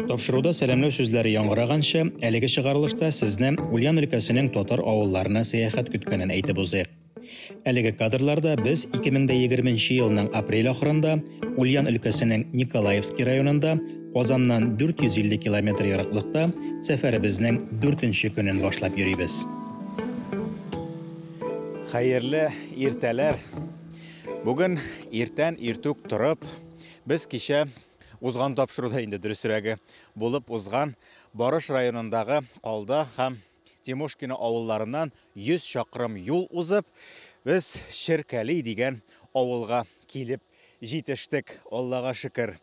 Тапшыруда сәламләү сүзләре яңгыраганчы, әлеге чыгарылышта сезне Ульян өлкәсенең татар авылларына сәяхәт көткәнен әйтеп узыйк. Әлеге кадрларда без 2020 елның апрель ахырында Ульян өлкәсенең Николаевский районында Казаннан 450 километр ераклыкта сәфәребезнең 4 нче көнен башлап йөрибез. Хәерле иртәләр! Бүген иртән иртүк торып, без кичә узган тапшыруда инде дөресрәге, булып узган Барыш районындагы Калда һәм Тимошкино авылларыннан 100 чакрым юл узып, без Черкәли дигән авылга килеп Җитештек, Аллага шөкер.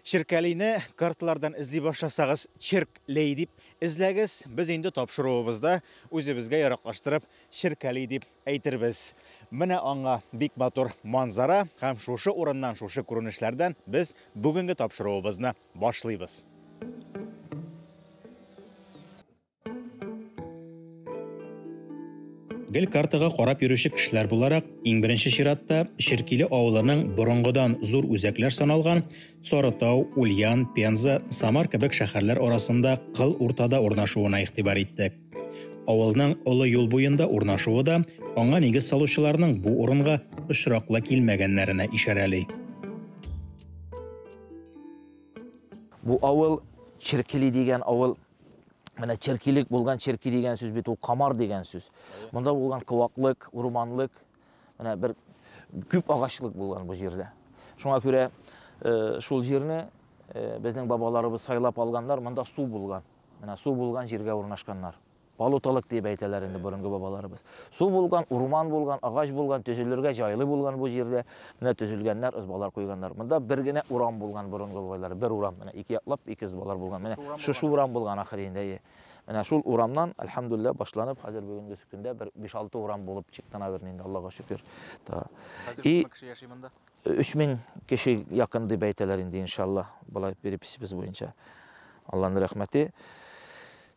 Черкәлине карталардан эзли башласагыз, Черк лей дип эзләгез, без инде тапшыруыбызда үзебезгә яраклаштырып Черкәли дип әйтербез. Менә аңа бик матур манзара һәм шушы урыннан, шушы күренешләрдән без бүгенге тапшыруыбызны башлыйбыз. Гел картага карап йөрүче кешеләр буларак, иң беренче чиратта Ширкиле авылының борынгыдан зур үзәкләр саналган Сарытау, Ульян, Пенза, Самар кебек шәһәрләр арасында кыл уртада урнашуына игътибар иттек. Авылның олы юл буенда урнашуы да аңа нигез салучыларның бу урынга очраклы килмәгәннәренә ишарәли. Бу авыл Черкили дигән авыл Менә черкилек булган, черки дигән сүз бит ул камар дигән сүз. Монда булган кываклык, урманлык, менә бер күп агачлык булган бу җирдә. Шуңа күрә э, шул җирне э, безнең бабаларыбыз сайлап алганнар, монда су булган. Менә су булган җиргә урнашканнар. Балуталык дип әйтәләр инде борынгы бабаларыбыз. Су булган, урман булган, агач булган, төзелергә җайлы булган бу җирдә. Менә төзелгәннәр, ызбалар куйганнар. Монда бер генә урам булган борынгы бабайлар, бер урам. Менә ике яклап ике ызбалар булган. Менә шушы урам булган ахыр инде. Менә шул урамнан, альхамдулилла, башланып, хәзер бүгенге көндә бер 5-6 урам булып чыкты, наверное, инде, Аллага шөкер. Та. Хәзер күпме кеше яши монда? 3000 кеше якын дип әйтәләр инде, иншалла, болай переписебез буенча. Алланың рәхмәте.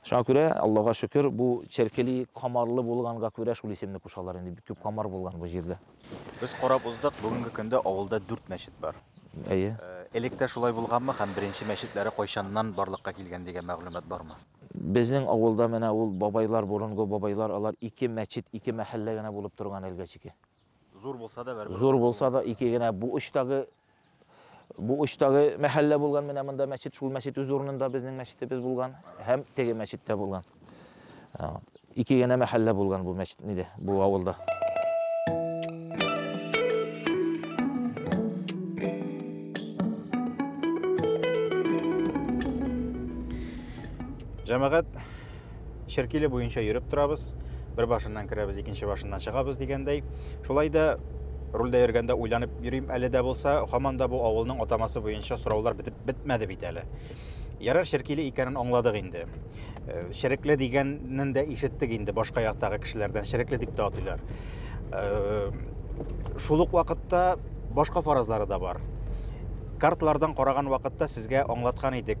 Шуңа күрә, Аллага шөкер, бу Черкели камарлы булганга күрә шул исемне кушалар инде. Бик күп камар булган бу җирдә. Без карап уздык, бүгенге көндә авылда дүрт мәчет бар. Әйе. Э, элек тә шулай булганмы һәм беренче мәчетләре кайчаннан барлыкка килгән дигән мәгълүмат бармы? Безнең авылда менә ул бабайлар, борынгы бабайлар, алар ике мәчет, ике мәхәллә генә булып торган әлгә чике. Зур булса да бәрбер. Зур булса да ике генә бу очтагы бу очтагы мәхәллә булган менә монда мәчет, шул мәчет үз урынында безнең мәчетебез булган һәм теге мәчеттә булган. Ике генә мәхәллә булган бу мәчет ниде, бу авылда. Җәмәгать Черкиле буенча йөреп торабыз. Бер башыннан керәбез, икенче башыннан чыгабыз дигәндәй. Шулай да рульдә йөргәндә уйланып йөрим әле дә булса, һаман да бу авылның атамасы буенча сораулар бетеп бетмәде бит әле. Ярар Черкиле икәнен аңладык инде. Э, Шерекле дигәнен дә ишеттек инде башка яктагы кешеләрдән. Шерекле дип тә атыйлар. Э, Шул ук вакытта башка фаразлары да бар. Карталардан караган вакытта сезгә аңлаткан идек,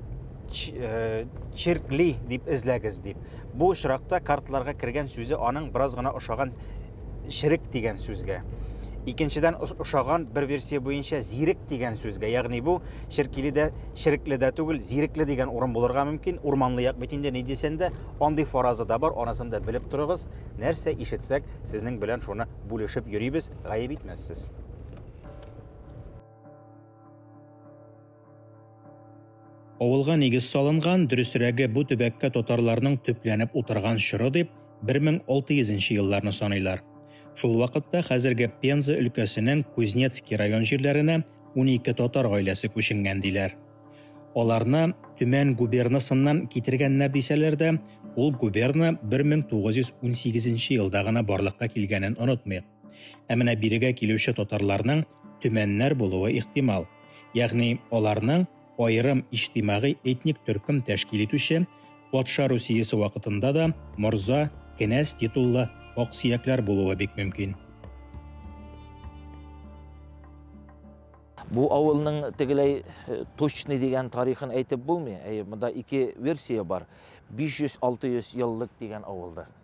э, черкли дип эзләгез дип. Бу очракта картларга кергән сүзе аның бераз гына ошаган ширек дигән сүзгә. Икенчедән ошаган бер версия буенча зирек дигән сүзгә, ягъни бу ширкили дә, ширекле дә түгел, зирекле дигән урын булырга мөмкин. Урманлы як бит инде ни дисәң дә, андый фараза да бар, анысын да белеп торыгыз. Нәрсә ишетсәк, сезнең белән шуны бүлешеп йөрибез, гаеп итмәссез. Авылга нигез салынган, дөресрәге бу төбәккә татарларның төпләнеп утырган чоры дип 1600 елларны саныйлар. Шул вакытта хәзерге Пенза өлкәсенең Кузнецкий район җирләренә 12 татар гаиләсе күченгән диләр. Аларны Төмән губернасыннан китергәннәр дисәләр дә, ул губерна 1918 елда гына барлыкка килгәнен онытмыйк. Ә менә бирегә килүче татарларның төмәннәр булуы ихтимал. Ягъни аларның аерым иҗтимагый этник төркем тәшкил итүче, патша Русиясе вакытында да морза, кенәз титуллы аксөякләр булуы бик мөмкин. Бу авылның тегеләй э, точный дигән тарихын әйтеп булмый. Әйе, монда ике версия бар. 500-600 еллык дигән авылда.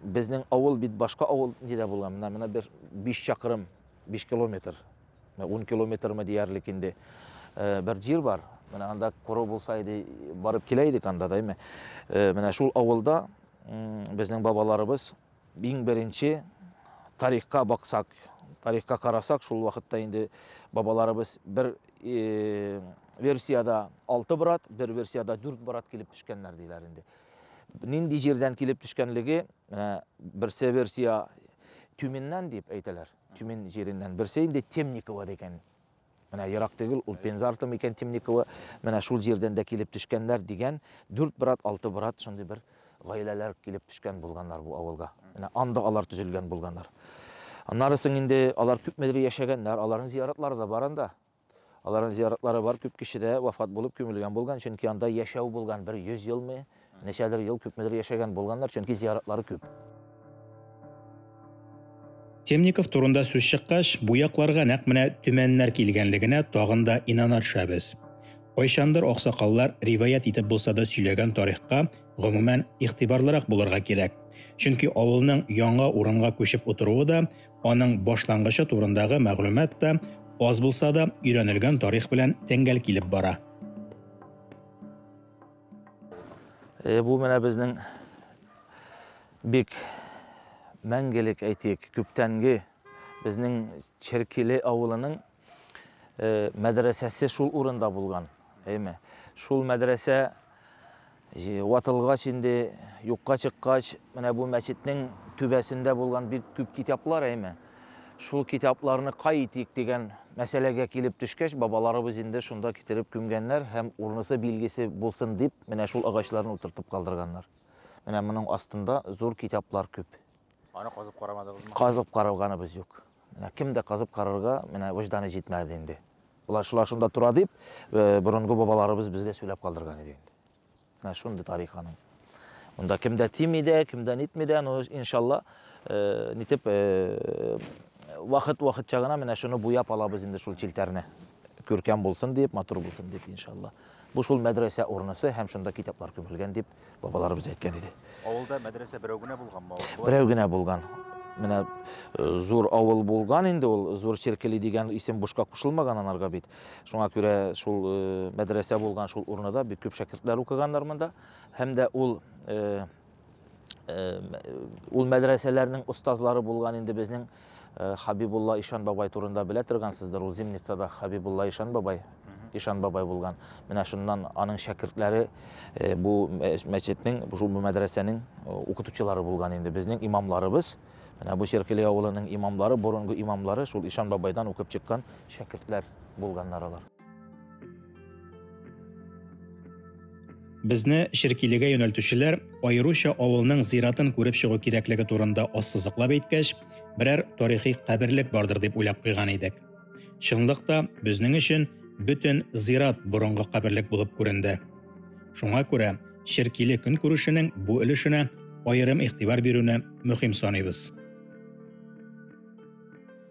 Безнең авыл бит башка авыл нидә булган? Менә менә бер 5 чакрым, 5 километр, 10 километрме диярлек инде э, бер җир бар. Менә анда кору булса иде, барып килә идек анда да, әйме. Э, менә шул авылда безнең бабаларыбыз иң беренче тарихка баксак, тарихка карасак, шул вакытта инде бабаларыбыз бер э, версияда 6 брат, бер версияда 4 брат килеп төшкәннәр диләр инде. Нинди җирдән килеп төшкәнлеге, менә берсе версия Тюменнән дип әйтәләр. Тюмен җиреннән. Берсе инде Темникова дигән. Менә ерак түгел, ул Пенза арты микән Темникова, менә шул җирдән дә килеп төшкәннәр дигән, дүрт брат, алты брат шундый бер гаиләләр килеп төшкән булганнар бу авылга. Менә анда алар төзелгән булганнар. Аннары соң инде алар күпмедер яшәгәннәр, аларның зияратлары да бар анда. Аларның зияратлары бар, күп кеше дә вафат булып күмелгән булган, чөнки анда яшәү булган, бер 100 елмы, ничәдер ел күпмедер яшәгән булганнар, чөнки зияратлары күп. Темников турында сүз чыккач, бу якларга нәкъ менә төмәннәр килгәнлегенә тагын да инана төшәбез. Кайчандыр аксакаллар риваять итеп булса да сөйләгән тарихка, гомумән, игътибарлырак булырга кирәк, чөнки авылның яңа урынга күчеп утыруы да Аның башлангычы турындагы мәгълүмат та аз булса да өйрәнелгән тарих белән тәңгәл килеп бара. Э, бу менә безнең бик мәңгелек әйтик, күптәнге безнең Черкиле авылының э, мәдрәсәсе шул урында булган. Әйме. Шул мәдрәсә ватылгач инде юкка чыккач, менә бу мәчетнең түбәсендә булган бик күп китаплар әйме. Шул китапларны кай итик дигән мәсьәләгә килеп төшкәч, бабаларыбыз инде шунда китереп күмгәннәр һәм урнысы билгесе булсын дип, менә шул агачларны утыртып калдырганнар. Менә моның астында зур китаплар күп. Аны казып карамадыгызмы? Казып каралганыбыз юк. Менә кем дә казып карарга менә вөҗданы җитмәде инде. Болар шулар шунда тора дип, э, борынгы бабаларыбыз безгә сөйләп калдырган иде инде. Менә шундый тарих аның. Монда кем дә тими дә, кем дә нитми дә, ну иншалла, э, нитеп э, вакыт вакыт чагына менә шуны буяп алабыз инде шул челтәрне. Күркәм булсын дип, матур булсын дип иншалла. Бу шул мәдрәсә урынысы һәм шунда китаплар күмелгән дип бабаларыбыз әйткән иде авылда мәдрәсә берәү генә булганмы берәү генә булган менә э, зур авыл булган инде ул зур черкели дигән исем бушка кушылмаган анарга бит шуңа күрә шул э, мәдрәсә булган шул урнада бик күп шәкертләр укыганнар монда һәм дә ул э, ул мәдрәсәләрнең остазлары булган инде безнең Э, Хабибулла Ишан бабай турында белә торгансыздыр, ул Зимницада Хабибулла Ишан бабай, Ишан бабай булган. Менә шуннан аның шәкертләре э, бу мәчетнең, бу мәдрәсәнең э, укытучылары булган инде. Безнең имамларыбыз, менә бу Черкели авылының имамлары, борынгы имамлары шул Ишан бабайдан укып чыккан шәкертләр булганнар алар. Безне Ширкилегә юнәлтүчеләр аеруча авылның зиратын күреп чыгу кирәклеге турында ассызыклап әйткәч, берәр тарихи каберлек бардыр дип уйлап куйган идек. Чынлыкта безнең өчен бөтен зират борынгы каберлек булып күренде. Шуңа күрә Ширкиле көн күрешенең бу өлешенә аерым игътибар бирүне мөһим саныйбыз.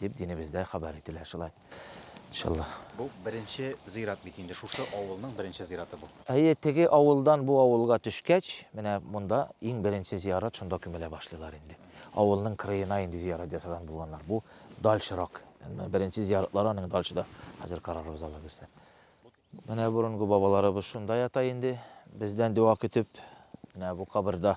дип динебездә хәбәр ителә шулай. Иншалла. Бу беренче зират бит инде, шушы авылның беренче зираты бу. Әйе, теге авылдан бу авылга төшкәч, менә монда иң беренче зиярат шунда күмелә башлыйлар инде. Авылның кырыена инде зиярат ясаган булганнар. Бу дальшырак. Беренче зияратлар аның дальшыда. Хәзер карарбыз Алла бирсә. Менә борынгы бабаларыбыз шунда ята инде, бездән дәва көтеп, менә бу каберда.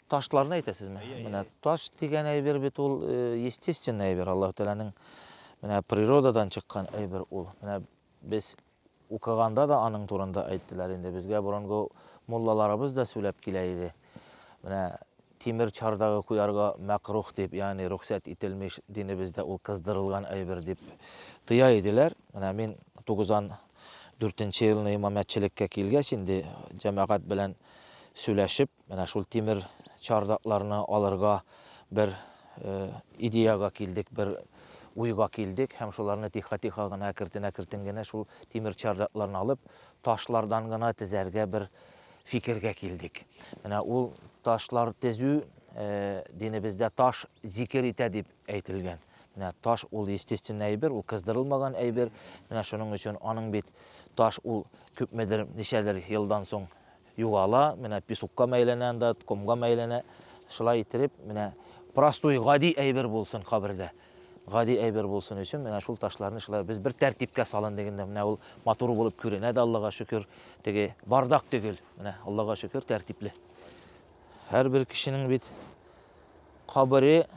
Ташларны әйтәсезме? Менә таш дигән әйбер бит ул э, естественный әйбер, Аллаһу Тәгаләнең менә природадан чыккан әйбер ул. Менә без укыганда да аның турында әйттеләр инде. Безгә борынгы муллаларыбыз да сөйләп килә иде. Менә тимер чардагы куярга мәкрух дип, ягъни рөхсәт ителмеш динебездә ул кыздырылган әйбер дип тыя иделәр. Менә мин 94 елны имамәтчелеккә килгәч инде җәмәгать белән сөйләшеп Менә шул тимер чардакларны алырга бер идеяга килдек, бер уйга килдек һәм шуларны тихо-тихо гына, әкертен-әкертен генә шул тимер чардакларны алып, ташлардан гына тезәргә бер фикергә килдек. Менә ул ташлар тезү динебездә таш зикер итә дип әйтелгән. Менә таш ул естественный әйбер, ул кыздырылмаган әйбер. Менә шуның өчен аның бит таш ул күпмедер, ничәдер елдан соң Югала, менә песокка мәйләнә анда, комга мәйләнә. Шулай иттереп, менә простой, гади әйбер булсын кабердә. Гади әйбер булсын өчен, менә шул ташларны шулай без бер тәртипкә салын дигәндә, менә ул матур булып күренә дә, Аллага шөкер. Теге бардак төгел, менә Аллага шөкер, тәртипле. Һәрбер кешенең бит кабере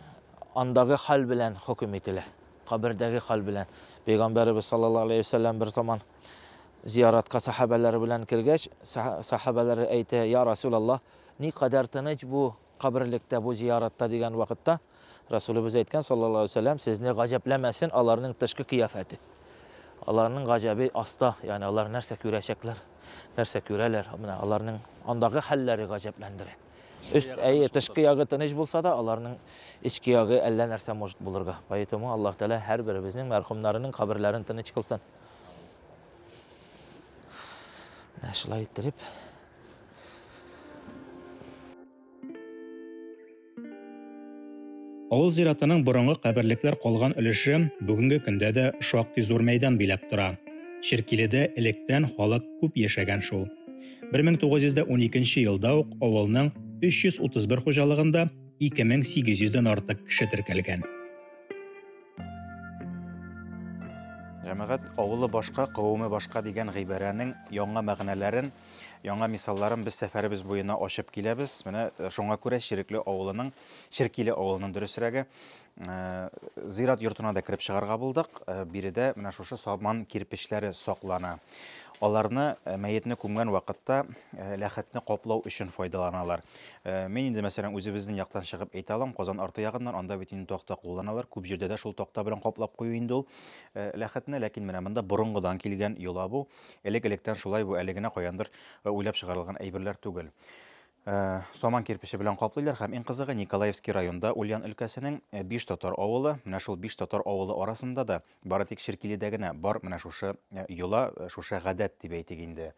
андагы хәл белән хөкем ителә. Кабердәге хәл белән. Пәйгамбәребез саллаллаһу алейһи ва сәлләм бер заман Зияратка сәхабәләре белән кергәч, сәхабәләре әйтә, Я Расул Аллаһ, ни кадәр тыныч бу каберлектә, бу зияратта дигән вакытта, Расулыбыз әйткән, саллаллаху алейһи вәсәлләм, сезне гаҗәпләмәсен аларның тышкы кыяфәте. Аларның гаҗәбе аста, ягъни алар нәрсә күрәчәкләр, нәрсә күрәләр, менә аларның андагы хәлләре гаҗәпләндерә. Өст, әйе, тышкы ягы тыныч булса да, аларның эчке ягы әллә нәрсә может булырга. Поэтому Аллаһ Тәгалә һәрберебезнең мәрхүмнәренең каберләрен тыныч кылсын. Ә шулай иттереп Авыл зиратының борынгы каберлекләр калган өлеше бүгенге көндә дә шактый зур мәйдан биләп тора. Черкиледә электән халык күп яшәгән шул. 1912 елда ук авылның 331 хуҗалыгында 2800 дән артык кеше теркәлгән. Җәмәгать авылы башка, кавымы башка дигән гыйбарәнең яңа мәгънәләрен, яңа мисалларын без сәфәребез буена ачып киләбез. Менә э, шуңа күрә Ширекле авылының, Ширкиле авылының дөресрәге, э, зират йортына да кереп чыгарга булдык. Э, биредә менә шушы сабан кирпечләре саклана. Аларны мәетне күмгән вакытта ләхәтне каплау өчен файдаланалар. Э, мин инде, мәсәлән, үзебезнең яктан чыгып әйтә алам, Казан арты ягыннан, анда бит инде такта кулланалар, күп җирдә дә шул такта белән каплап кую инде ул э, ләхетне, ләкин менә монда борынгыдан килгән йола бу, элек-электән шулай бу, әле генә каяндыр э, уйлап чыгарылган әйберләр түгел. Э, Саман кирпиче белән каплыйлар һәм иң кызыгы Николаевский районда Ульян өлкәсенең э, биш татар авылы, менә шул биш татар авылы арасында да Бары тик Черкиледә генә бар менә шушы йола, шушы гадәт дип әйтик инде.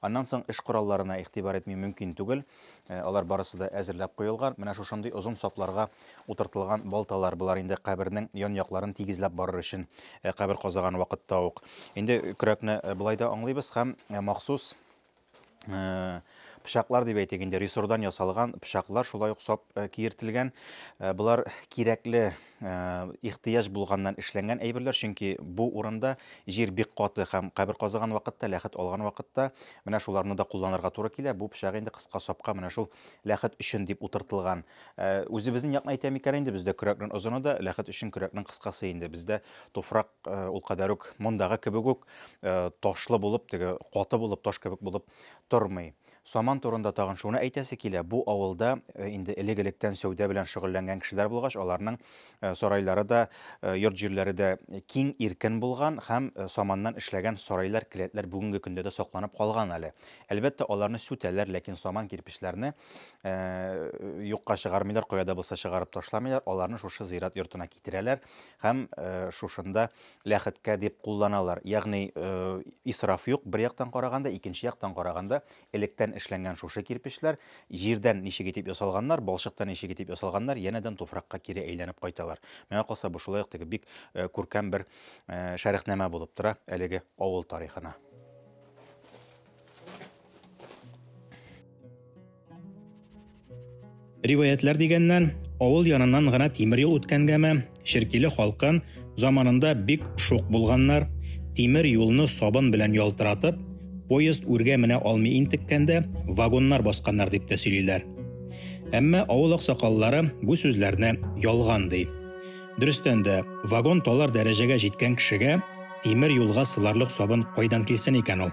Аннан соң эш коралларына игътибар итми мөмкин түгел. Алар барысы да әзерләп куелган. Менә шушындый озын сапларга утыртылган балталар. Болар инде кабернең ян-якларын тигезләп барыр өчен кабер казыган вакытта ук. Инде көрәкне болай да аңлыйбыз һәм махсус э, пычаклар дип әйтик инде рессордан ясалган пычаклар шулай ук сап э, киертелгән э, болар кирәкле э, ихтыяҗ булганнан эшләнгән әйберләр чөнки бу урында җир бик каты һәм кабер казыган вакытта ләхет алган вакытта менә шуларны да кулланырга туры килә бу пычак инде кыска сапка менә шул ләхет өчен дип утыртылган үзебезнең якны әйтәм икән инде бездә көрәкнең озыны да ләхет өчен көрәкнең кыскасы инде бездә туфрак Ул кадәр үк мондагы кебек үк ташлы булып, теге каты булып, таш кебек булып тормый. Саман турында тагын шуны әйтәсе килә, бу авылда инде элек-электән сәүдә белән шөгыльләнгән кешеләр булгач, аларның сарайлары да, йорт-җирләре дә киң, иркен булган һәм саманнан эшләгән сарайлар, келәтләр бүгенге көндә дә сакланып калган әле. Әлбәттә, аларны сүтәләр, ләкин саман кирпечләрне юкка чыгармыйлар, кая да булса чыгарып ташламыйлар, аларны шушы зират йортына китерәләр һәм шушында ләхеткә дип кулланалар. Ягъни исраф юк, бер яктан караганда, икенче яктан караганда, электән эшләнгән шушы кирпечләр җирдән ничек итеп ясалганнар, балчыктан ничек итеп ясалганнар, янәдән туфракка кире әйләнеп кайталар. Миңа калса, бу шулай ук теге бик күркәм бер шәрехнамә булып тора әлеге авыл тарихына. Риваятлар дигәннән, авыл яныннан гына тимер юл үткәнгәме, Ширкиле халкын заманында бик шук булганнар, тимер юлны сабын белән ялтыратып, поезд үргә менә алмый интеккәндә, вагоннар басканнар дип тә сөйлиләр. Әмма авыл аксакаллары бу сүзләрне ялган ди. Дөрестән дә, вагон талар дәрәҗәгә җиткән кешегә тимер юлга сыларлык сабын кайдан килсен икән ул?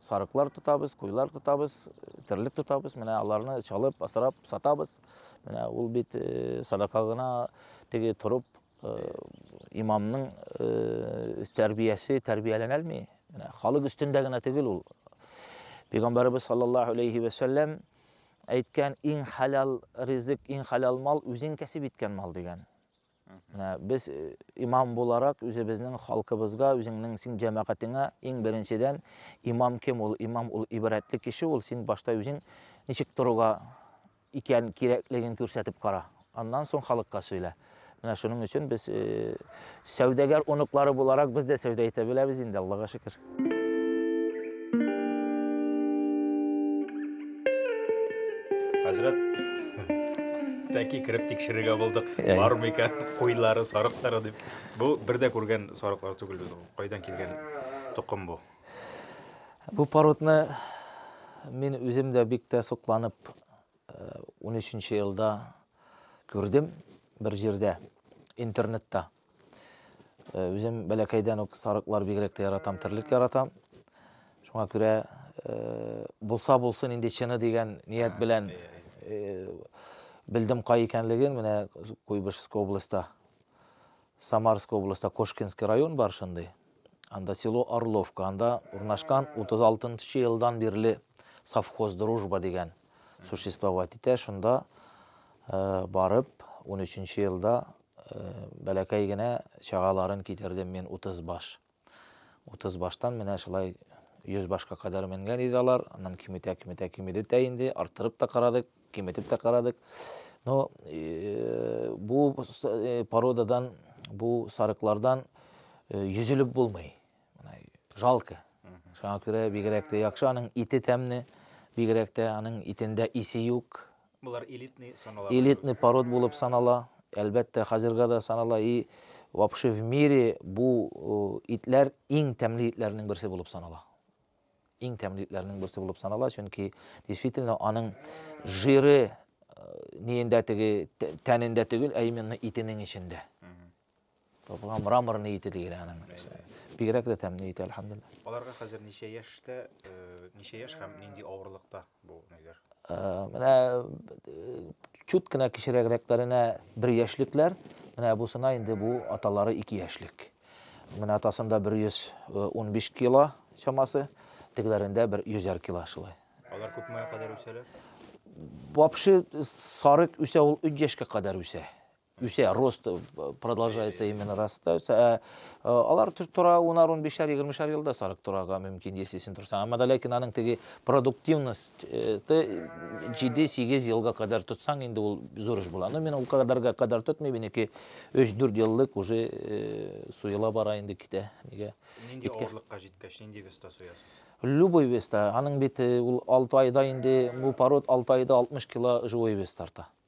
сарыклар тотабыз, куйлар тотабыз, терлек тотабыз. Менә аларны чалып, асрап, сатабыз. Менә ул бит э, садака гына теге торып э, имамның э, тәрбиясе тәрбияләнә алмый. Менә халык өстендә генә түгел ул. Пәйгамбәрбез саллаллаһу алейхи ва саллям әйткән иң халал ризык, иң халал мал үзең кәсеп иткән мал дигән. Менә без э, имам буларак үзебезнең халкыбызга, үзеңнең син җәмәгатеңә иң беренчедән имам кем ул? Имам ул ибрәтле кеше ул. Син башта үзең ничек торуга икән кирәклеген күрсәтеп кара. Аннан соң халыкка сөйлә. Менә шуның өчен без э, сәүдәгәр оныклары буларак без дә сәүдә итә беләбез инде, Аллага шөкер. Хәзрәт, тәки кереп тикшерергә булдык. Бар микән куйлары, сарыклары дип. Бу бер дә күргән сарыклар түгел без ул. Кайдан килгән тукым бу? Бу породны мин үзем дә бик тә сокланып 13 э, елда күрдем бер җирдә, интернетта. Э, үзем бәләкәйдән үк сарыклар бигрәк тә яратам, терлек яратам. Шуңа күрә э, булса булсын инде чыны дигән ният белән э, белдем кай икәнлеген, менә Куйбышевск областьта, Самарск областьта Кошкинский район бар шундый. Анда село Орловка, анда урнашкан 36 елдан бирле совхоз дружба дигән существовать итә. Шунда барып 13 елда Бәләкәй генә чагаларын китердем мин утыз баш. Утыз баштан менә шулай йөз башка кадәр менгән иде алар. Аннан киметә, киметә, кимеде тә инде. Арттырып та карадык, киметеп тә карадык. Но э, бу э, породадан, бу сарыклардан э, йөзелеп булмый. Жалко. Шуңа күрә бигрәк тә яхшы. Аның ите тәмне, бигрәк тә аның итендә исе юк. Болар элитный санала. Элитный пород булып санала, әлбәттә, хәзергә дә санала и вообще в мире бу итләр иң тәмле итләрнең берсе булып санала. Иң тәмле итләрнең берсе булып санала, чөнки действительно аның жиры ниендә теге тәнендә түгел, ә именно итенең эчендә. Топла мрамор ни ите дигән аның. Бигрәк тә тәмле ите, әлхәмдулилла. Аларга хәзер ничә яшьтә, э, ничә яшь һәм нинди авырлыкта бу ниләр? Э, менә э, чут кенә кечерәгрәкләренә бер яшьлекләр, менә бусына инде бу аталары ике яшьлек. Менә атасында 115 кило чамасы, тегеләрендә бер 100 кило шулай. Алар күпмегә кадәр үсәләр? Вообще сарык үсә ул 3 яшькә кадәр үсә. үсә, рост э, продолжается именно растается. Ә, э, алар тора унар унбишәр егермешәр елда сарык торага мөмкин, если син торсаң. Әмма ләкин аның теге продуктивность э, җиде сигез елга кадәр тотсаң, инде ул зур эш була. Но мин ул кадәргә кадәр тотмый, минеке өч дүрт еллык уже суела бара инде китә. Нигә? Нинди авырлыкка җиткәч, нинди веста суясыз? Любой веста. Аның бит ул алты айда инде, бу пород алты айда 60 кило живой вес тарта.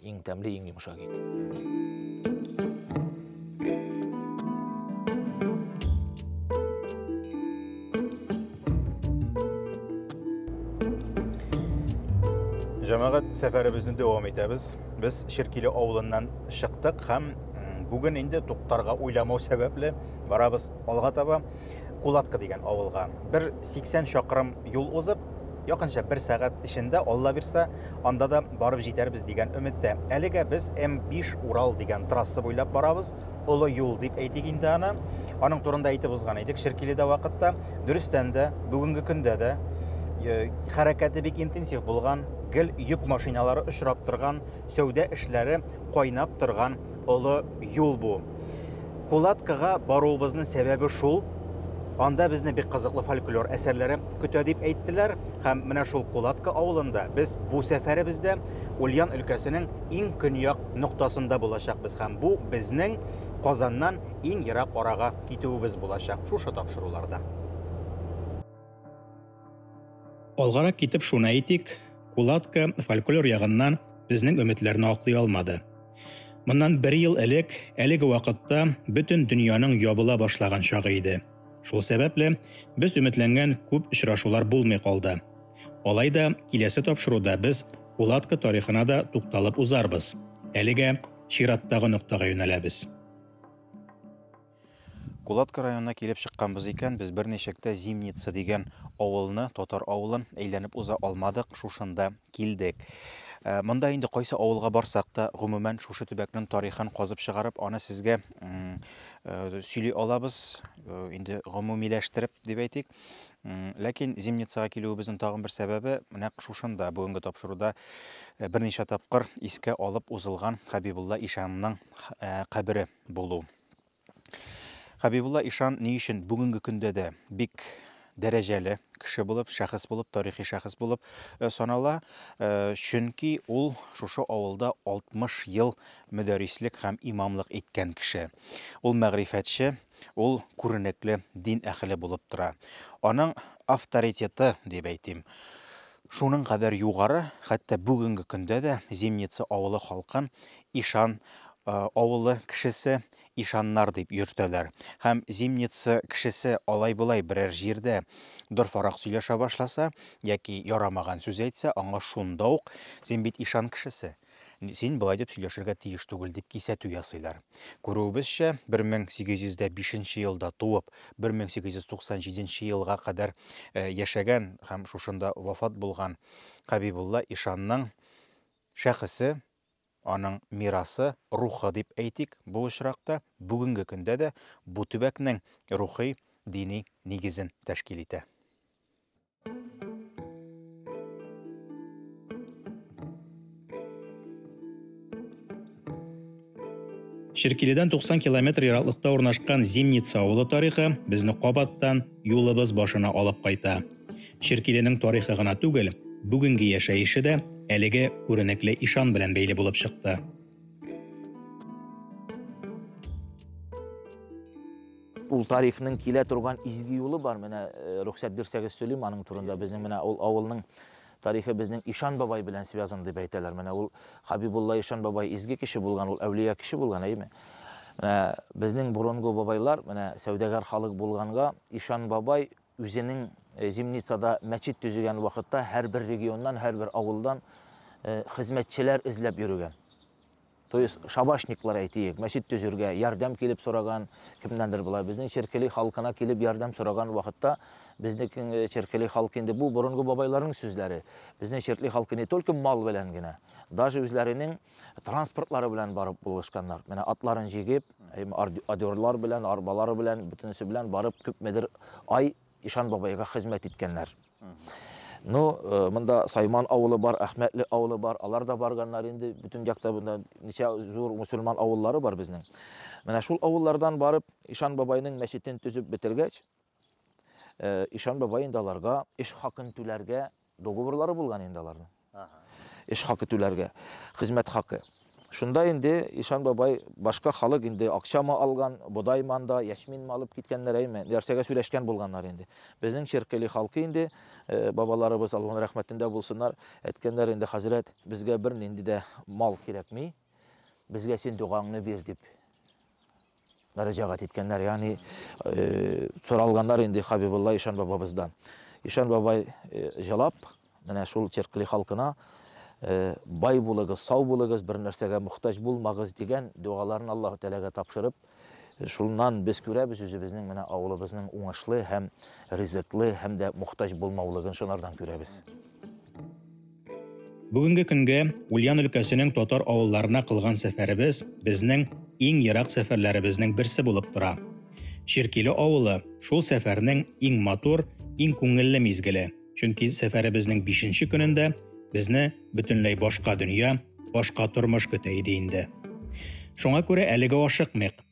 Иң тәмле, иң йомшак ит. Җәмәгать сәфәребезне дәвам итәбез. Без Ширкиле авылыннан чыктык һәм бүген инде туктарга уйламау сәбәпле барабыз алга таба. Кулатка дигән авылга. Бер 80 чакрым юл узып, якынча бер сәгать эчендә, алла бирса, анда да барып җитәрбез дигән өметтә. Әлегә без М5 Урал дигән трасса буйлап барабыз, олы юл дип әйтик инде аны. Аның турында әйтеп узган идек Ширкиледә вакытта. Дөрестән дә, бүгенге көндә дә э, хәрәкәте бик интенсив булган, гел йөк машиналары очрап торган, сәүдә эшләре кайнап торган олы юл бу. Кулаткага баруыбызның сәбәбе шул, анда безне бик кызыклы фольклор әсәрләре көтә дип әйттеләр, һәм менә шул Кулатка авылында без бу сәфәребездә Ульян өлкәсенең иң көньяк ноктасында булачакбыз һәм бу безнең Казаннан иң ерак арага китүебез булачак шушы тапшыруларда. Алгарак китеп шуны әйтик, Кулатка фольклор ягыннан безнең өметләрне аклый алмады. Моннан бер ел элек әлеге вакытта бөтен дөньяның ябыла башлаган чагы иде. Шул сәбәпле без өметләнгән күп очрашулар булмый калды. Алай да киләсе тапшыруда без Кулатка тарихына да тукталып узарбыз. Әлегә чираттагы ноктага юнәләбез. Кулатка районына килеп чыкканбыз икән, без берничек тә Зимница дигән авылны, татар авылын әйләнеп уза алмадык, шушында килдек. Э, монда инде кайсы авылга барсак та, гомумән шушы төбәкнең тарихын казып чыгарып, аны сезгә э, сөйли алабыз, э, инде гомумиләштереп дип әйтик. Ләкин Зимницага килүебезнең тагын бер сәбәбе нәкъ шушында бүгенге тапшыруда берничә тапкыр искә алып узылган Хәбибулла ишанның кабере булу. Хәбибулла ишан ни өчен бүгенге көндә дә бик дәрәҗәле кеше булып, шәхес булып, тарихи шәхес булып э, санала, э, чөнки ул шушы авылда 60 ел мөдәррислек һәм имамлык иткән кеше. Ул мәгърифәтче, ул күренекле дин әхеле булып тора. Аның авторитеты, дип әйтим, Шуның кадәр югары, хәтта бүгенге көндә дә Зимница авылы халкын Ишан авылы кешесе, ишаннар дип йөртәләр. Һәм Зимница кешесе алай-болай берәр җирдә дорфарак сөйләшә башласа яки ярамаган сүз әйтсә, аңа шунда ук, Син бит ишан кешесе, Син болай дип сөйләшергә тиеш түгел, дип кисәтү ясыйлар. Күрүебезчә, 1805 елда туып, 1897 елга кадәр э, яшәгән һәм шушында вафат булган Хәбибулла ишанның шәхесе, аның мирасы, рухы дип әйтик, бу очракта бүгенге көндә дә бу төбәкнең рухи дини нигезен тәшкил итә. Ширкиледән 90 километр ераклыкта урнашкан Зимница авылы тарихы безне кабаттан юлыбыз башына алып кайта. Ширкиленең тарихы гына түгел, бүгенге яшәеше дә әлеге күренекле ишан белән бәйле булып чыкты. Ул тарихның килә торган изге юлы бар. Менә э, рөхсәт бирсәгез сөйлим аның турында. Безнең менә ул авылның тарихы безнең Ишан бабай белән связан дип әйтәләр. Менә ул Хабибулла Ишан бабай изге кеше булган, ул әүлия кеше булган, әйме? Менә безнең борынгы бабайлар, менә сәүдәгәр халык булганга, Ишан бабай үзенең э, Зимницада мәчет төзегән вакытта һәрбер регионнан, һәрбер авылдан э, хезмәтчеләр эзләп йөрегән. То есть шабашниклар әйтиек, мәчет төзергә ярдәм килеп сораган, кемнәндер болай безнең Черкели халкына килеп ярдәм сораган вакытта безнең э, Черкели халкы инде бу борынгы бабайларның сүзләре. Безнең Черкели халкы не только мал белән генә, даже үзләренең транспортлары белән барып булышканнар. Менә атларын җигеп, адерлар белән, арбалары белән, бөтенесе белән барып күпмедер ай Ишан бабайга хезмәт иткәннәр. Ну, э, монда Сайман авылы бар, Әхмәтле авылы бар, алар да барганнар инде, бүтін якта монда ничә зур мусульман авыллары бар безнең. Менә шул авыллардан барып, Ишан бабайның мәчетен төзеп бетергәч, э, Ишан бабай инде аларга эш хакын түләргә Договорлары булган инде аларның. Эш хакы түләргә, хезмәт хакы. Шунда инде ишан бабай башка халык инде акчамы алган, бодаймы анда, яшьминме алып киткәннәр, әйме, нәрсәгә сөйләшкән булганнар инде. Безнең Черкыли халкы инде, бабаларыбыз, Аллаһ рәхмәтендә булсыннар, әйткәннәр инде, хәзрәт, безгә бернинди дә мал кирәкми, безгә син догаңны бир, дип. мөрәҗәгать иткәннәр, ягъни соралганнар инде Хабибулла Ишан бабабыздан. Ишан бабай җылап, менә шул Черкли халкына бай булыгыз, сау булыгыз, бер нәрсәгә мохтаҗ булмагыз дигән дуаларын Аллаһу Тәгаләгә тапшырып, шуннан без күрәбез үзебезнең менә авылыбызның уңышлы һәм ризыклы һәм дә мохтаҗ булмаулыгын шулардан күрәбез. Бүгенге көнгә Ульян өлкәсенең татар авылларына кылган сәфәребез безнең иң ерак сәфәрләребезнең берсе булып тора. Ширкиле авылы шул сәфәрнең иң матур, иң күңелле мизгеле. Чөнки сәфәребезнең 5 көнендә безне бөтенләй башка дөнья, башка тормыш көтә иде инде. Шуңа күрә әлегә ашыкмыйк.